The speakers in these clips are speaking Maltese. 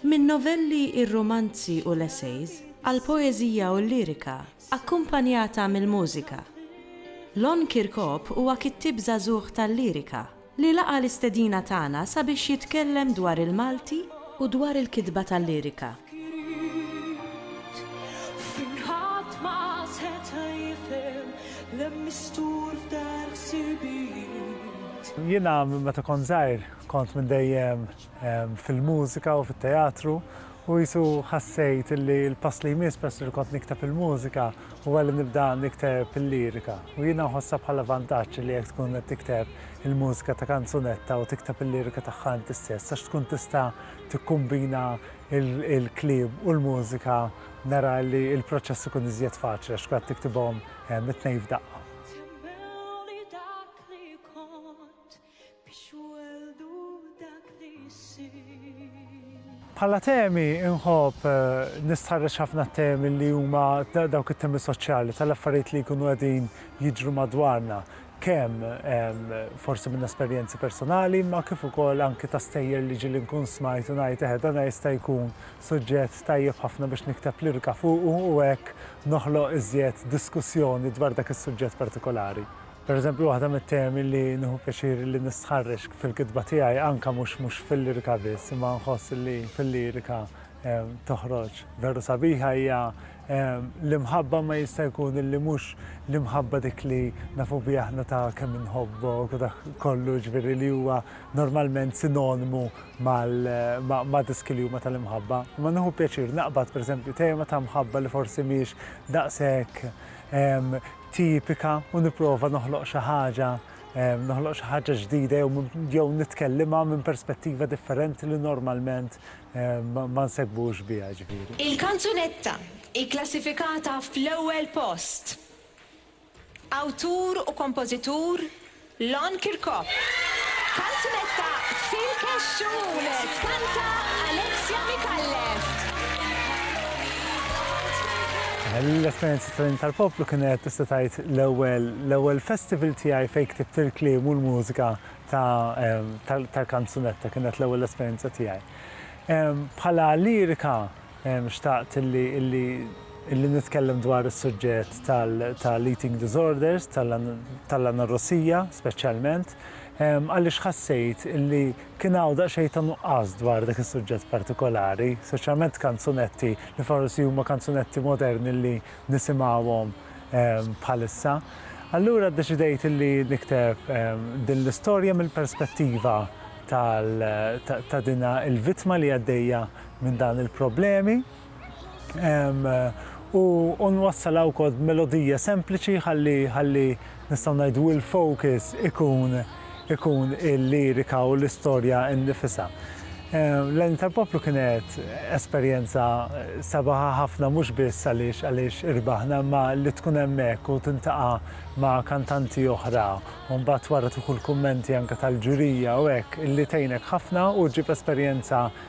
Min-novelli, ir-romanzi u l-essays, għall-poeżija u l-lirika, akkumpanjata mill-mużika. Lon Kirkop huwa kittieb żagħżugħ tal-lirika li laqa' l-istedina tagħna sabiex jitkellem dwar il-Malti u dwar il-kitba tal-lirika. Jiena meta kont żgħir kont minn dejjem. fil-mużika u fit-teatru u jisu ħassejt li l-pass li jmiss pers li kont nikteb il-mużika u għalli nibda nikteb il-lirika. U jina nħossa bħala vantaġġ li jek tkun qed tikteb il-mużika ta' kanzunetta u tikteb il-lirika tagħha inti stess għax tkun tista' tikkumbina il-kliem u l-mużika nara li l-proċess ikun iżjed faċli għax tkun qed tiktibhom it-tnejn f'daqqa. Biex weldu dak li jsir. Bħala temi inħobb nistħarreġ ħafna t-temi li huma dawk it-temi soċjali tal-affarijiet li jkunu qegħdin jiġru madwarna kemm forsi minn esperjenzi personali, ma kif ukoll anki ta' stejjer li ġili nkun smajt u ngħid eħe dan jista' jkun suġġett tajjeb ħafna biex nikteb lirika fuqu u hekk noħloq iżjed diskussjoni dwar dak is-suġġett partikolari. Pereżempju, waħda mit-temi li nieħu pjaċir li nistħarreġ fil-kitba tiegħi, anke mhux mhux fil-lirika biss, imma nħoss li fil-lirika toħroġ veru sabiħa hija l-imħabba ma jista' jkun illi mhux l-imħabba dik li nafu biha aħna ta' kemm inħobbok u dak kollu ġifieri li huwa normalment sinonimu ma' diski li huma tal-imħabba. Imma nieħu pjaċir naqbad pereżempju tema ta' mħabba li forsi mhix daqshekk tipika u nipprova noħloq xi ħaġa, noħloq xi ħaġa ġdida jew nitkellimha minn perspettiva differenti li normalment ma nsegbux biha ġifieri. Il-kanzunetta hi klassifikata fl-ewwel post. Awtur u kompożitur Lon Kirkop. Kanzunetta fil-kexxun, tkanta Alexia Micallef. L-esperjenza tal-Jum tal-Poplu kienet tista' tgħid l-ewwel l-ewwel festival tiegħi fejn ktibt il-kliem u l-mużika ta' tal-kanzunetta, kienet l-ewwel esperjenza tiegħi. Bħala lirika Xtaqt illi nitkellem dwar is-suġġett tal-eating disorders, tal-anorussija speċjalment, għaliex ħassejt illi kien hawn daqsxejn ta' nuqqas dwar dak is-suġġett partikolari, speċjalment kanzunetti li forsi huma kanzunetti moderni li nisimgħuhom bħalissa. Allura ddeċidejt illi nikteb din l-istorja mill-perspettiva ta' din il-vittma li għaddejja minn dawn il-problemi u nwassalha wkoll b'melodija sempliċi ħalli ħalli nistgħu ngħidu l-focus ikun ikun il-lirika u l-istorja nnifisha. L-għajn tal-poplu kienet esperjenza sabaħa ħafna mhux biss għaliex għaliex irbaħna ma li tkun hemmhekk u tintaqa' ma' kantanti oħra u mbagħad wara tieħu l-kummenti anke tal-ġurija u hekk li tgħinek ħafna u ġġib esperjenza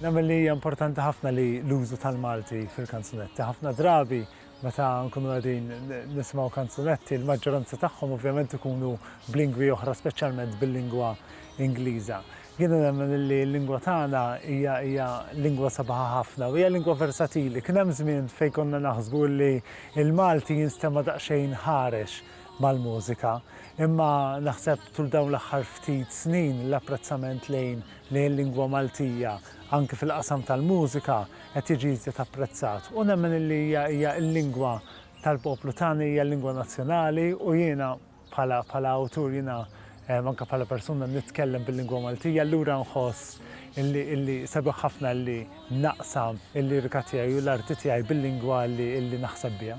Nemmen li hija importanti ħafna li l-użu tal-Malti fil-kanzunetti. Ħafna drabi meta nkunu qegħdin nismgħu kanzunetti, l-maġġoranza tagħhom ovvjament ikunu b'lingwi oħra speċjalment bil-lingwa Ingliża. Jiena nemmen li l-lingwa tagħna hija hija lingwa sabiħa ħafna u hija lingwa versatili. Kien hemm żmien fejn konna naħsbu li l-Malti jinstema' daqsxejn ħarex mal-mużika, imma naħseb tul dawn l-aħħar ftit snin l-apprezzament lejn lejn lingwa Maltija anki fil-qasam tal-mużika qed jiġi iżjed apprezzat u nemmen illi hija hija l-lingwa tal-poplu tagħna hija l-lingwa nazzjonali u jiena bħala bħala awtur jiena anke bħala persuna nitkellem bil-lingwa Maltija allura nħoss illi illi sabiħ ħafna illi naqsam il-lirika tiegħi u l-arti tiegħi bil-lingwa illi illi naħseb biha.